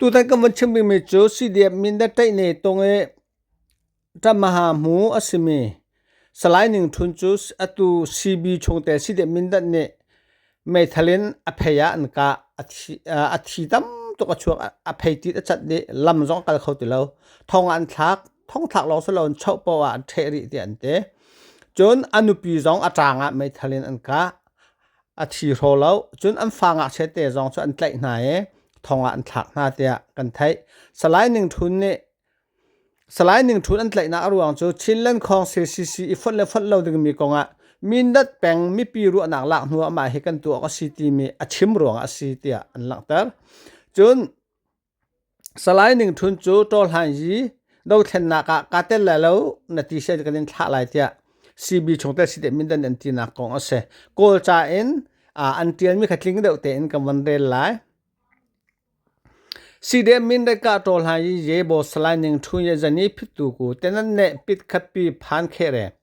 Tutan kan vun chim rihmi cu CDF Mindat Tlaihne Tung i ṭammaha hmu a simi Salai Ning Ṭhun cu atu CB chungtel CDF Mindat nih meithal in a phei ah an kah a thi tam tuk a chuak a phei tit a cat dih lam zong a kal kho ti lo thong ah an thlak thong thlak lawng si lo in choh paoh ah an ṭheh rih tiah an ti cun a nupi zong a ṭang ah meithal in an kah a thi hraw lo cun an fa ngakchia te zong cu an tlaih hna i thong ah an thlak hna tiah kan theih salai ning ṭhun nih salai ning ṭhun an tlaihnak a ruang cu chinland khawng ccc i fonh le fonh lo dingmi kongah mindat peng mipi ruahnak lak hnu ah mah hi kan tuah awk a si timi a chim ruangah a si tiah an langhter cun Salai Ning Htun cu ṭawhlan yi dothlennak ah kaa tel lai lo na ti si kan in thlah lai tiah CB chung tel si te Mindan an tinak kong a si. Kawlca in ah an ṭialmi kha tling deuh tein kan van rel lai. CDM Mindatka ṭawhlan yi Ye Bo Salai Ning Htun ye zan i phittu ku tenan ne pit khatpi phan kheh re.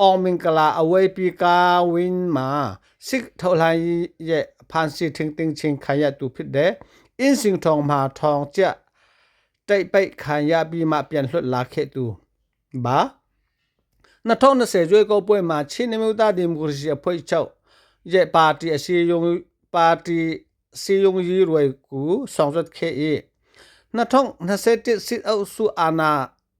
Awngmingkala aweipi ka win ma sik thohlai ye phan si thing ting chin khan ya tu phit de in sing thong ma thong chia tei pei khan ya bi ma pian hlut la khe tu ba na thong na se jwe ko poi ma chin ne ta democracy a phoi chau ye party a si yung party si yung yi roi ku song zat khe i na thong na se tit sit au su ana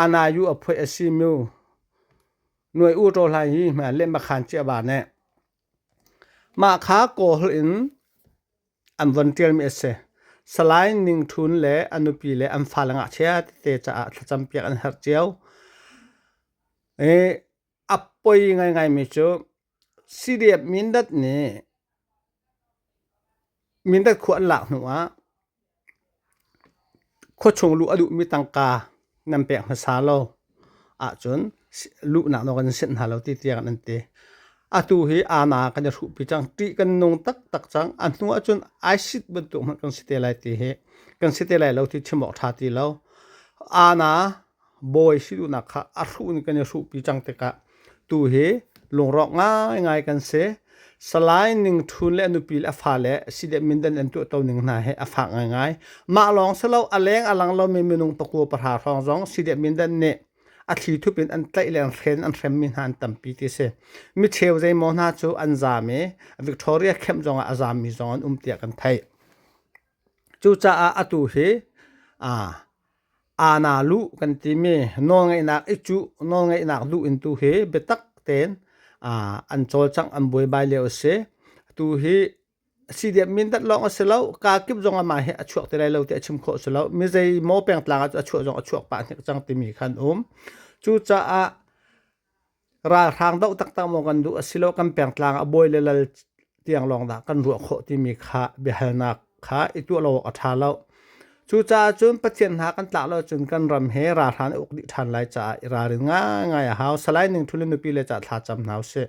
Anayu a phuai a si mu. Nuai u ṭaw hlai hi hmai le makhan cia ba ne. Mah kha kawhl in an von ṭialmi a si. Salai Ning Ṭhun le a nupi le an fale ngakchia tete caah thlacam piak an herh cio. E, A poi ngaingaimi cu CDF Mindat nih Mindat khua an lak hnu ah khuachung luh a duhmi tangka nan pek hmasa lo ahcun luhnak nawl kan in senh hna lo ti tiah an ti. Atu hi aana kan i hruhpi cang. Ṭih kan nung taktak cang. A hnu ahcun ISIS bantuk hmanh kan si te lai ti hi kan si te lai lo ti chim awk ṭha ti lo. Aana bawi si duhnak kha a hruh in kan i hruhpi cang tikah tu hi lungrawk ngaingai kan si salai ning ṭhun le a nupi le a fale si le mindan an tuah to ning hna he a fak ngaingai mah lawng si lo a leng a lang lomi minung pakua pahra hrawng zong si le mindan nih a thli thup in an tlaih le an hren an hremmi hna an tampi ti si mi cheu zeimaw hna cu an zam i Victoria camp zongah a zammi zong an um tiah kan theih Cucaah atu hi aa na luh kan timi nawlngeihnak i cuh nawlngeihnak duh in tu hi biatak tein an cawlcangh an buaibai lio a si. Atu hi siidep mindat lawng a si lo, kaa kip zong ah mah hi a chuak ti lai lo ti a chim khawh si lo. Mizeimaw pengtlang ah cu a chuah zong a chuak pah hnik cang timi kha an um. Cucaah ralhrang doh taktak maw kan duh asilo kan pengtlang a bawi le lal tiang lawng dah kan ruah khawh timi kha biahalnak kha i tuah lo awk a ṭha lo. Cucaah cun Pathian hna kan tlak lo cun kan ram he ralhrang nih uk dih ṭhan lai caah i ralrin ngaingai a hau. Salai Ning Htun le nupi le ca thlacam hna usih.